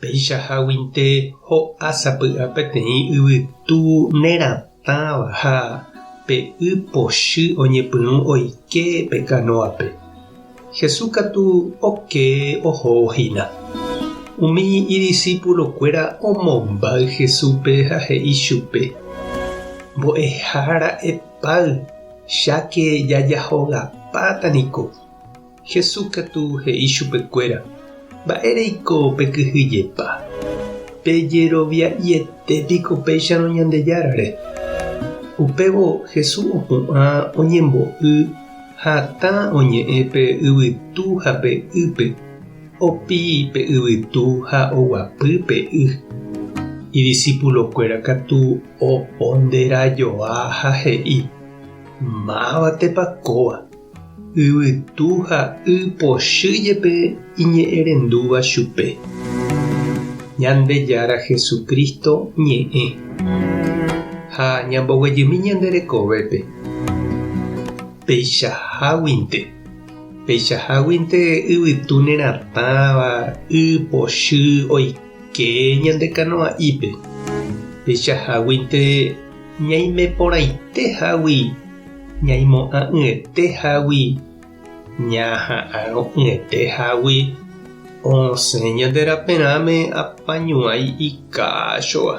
Peichaháguinte ho'a sapy'a peteĩ yvytu neratãva ha pe y pochy oñepyrũ oike pe kanóape. Jesús katu oke ohóvo hína. Umi idisipulokuéra omombáy Jesúspe ha he'i chupe, Mbo'ehára epáy, cháke jajahogapáta niko. Jesús katu he'i chupekuéra, Mba'e reiko pekyhyjepa? Pejerovia'iete piko péicharõ Ñandejárare? Upévo Jesús opu'ã oñembo'y hatã oñe'ẽ pe yvytu ha pe ýpe, opi pe yvytu ha oguapy pe y. Idisipulokuéra katu oponderãjoa ha he'i, Mávatepa kóva? Yvytu ha y pochy jepe iñe'ẽrendúva chupe. Ñandejára Jesucristo ñe'ẽ. Ha ñamboguejymi ñande rekovépe. Peichaháguinte. Peichaháguinte yvytu neratãva y pochy oike. Che ñande kanoa'ípe, pechaháguinte ñaimeporãite hágui ñaimo'ã'ỹete hágui ñaha'arõ'ỹete hágui osẽ ñande raperãme apañuãi ikáchova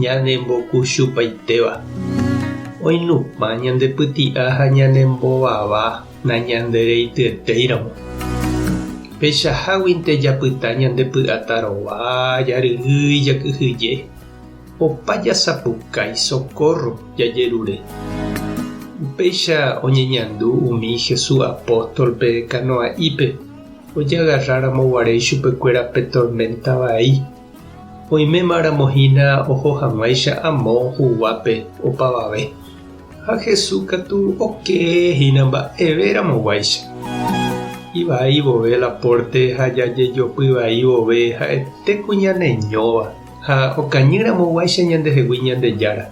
ñanembokuchupaitéva, oinupã ñandepyti'a ha ñanembovava. Nañandereityetéiramo. Pechaháguinte japyta ñandepy'ata rova, jaryrýi, jakyhyje. Opa jasapukái sokórro jajerure. Upéicha oñeñandu umi Jesús apóstolpe kanoa'ípe ojagarráramo guare ichupekuéra pe torménta vai. Oimémaramo hína oho hag̃uáicha amo huguápe opavave, ha Jesús katu okee hína mba'everamoguáicha. Ivai vove la pórte ha jajejopy vai vove ha'ete ku ñaneñóva ha okañýramoguáicha ñandehegui Ñandejára,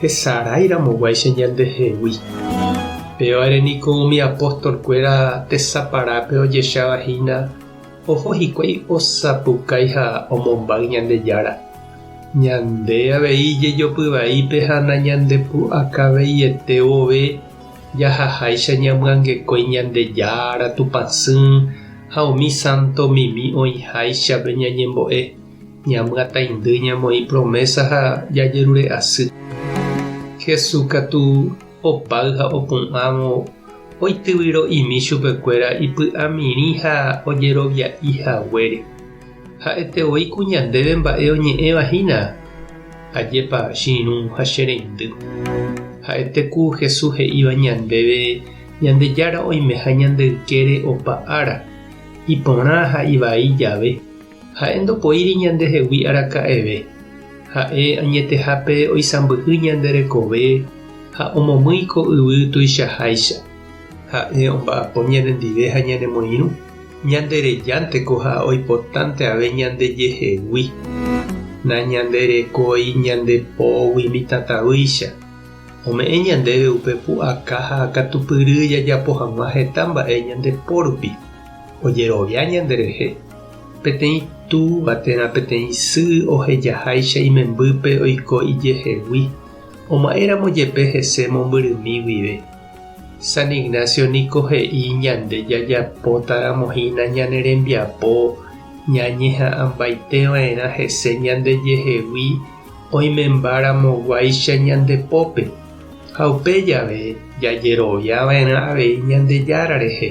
hesaráiramoguáicha ñandehegui. Pévare niko umi apóstolkuéra tesaparápe ojecháva hína. Oho hikuái osapukái ha omombáy Ñandejára. Ñande avei jejopyvaípe ha nañandepu'akaveiete vove, jahaháicha ñamyangekói Ñandejára, Tupã Sỹ ha umi sánto mimi oĩháichape ñañembo'e, ñamyataindy ñamoĩ promésa ha jajerure'asy. Jesús katu Opáy ha opu'ãvo oityvyro'imi chupekuéra ipy'amirĩ ha ojerovia'i haguére. Ha'ete voi ku ñandéve mba'e oñe'ẽva hína, Ajépa che irũ ha che reindy. Ha'ete ku Jesús he'íva ñandéve Ñandejára oimeha ñande ykére opa ára, iporã ha ivai jave, Ha'e ndopoíri ñandehegui araka'eve. Ha'e añetehápe oisãmbyhy ñande rekove ha omomýi ko yvy tuichaháicha. Ha'e omba'apo ñanendive ha ñanemoirũ, ñanderejánteko ha oipotánteave ñandejehegui. Nañanderekói ñande pógui mitãtavýicha. Ome'ẽ ñandéve upe pu'aka ha akatupyry jajapo hag̃ua heta mba'e ñande pórupi. Ojerovia ñanderehe. Peteĩ túva térã peteĩ sy ohejaháicha imembýpe oiko ijehegui, oma'éramo jepe hese mombyrymi guive. San Ignacio niko he'i ñande jajapótaramohína ñane rembiapo ñañeha'ãmbaiteva'erã hese ñandejehegui oimembaramoguáicha ñande pópe, ha upe jave jajeroviava'erã avei Ñandejára rehe.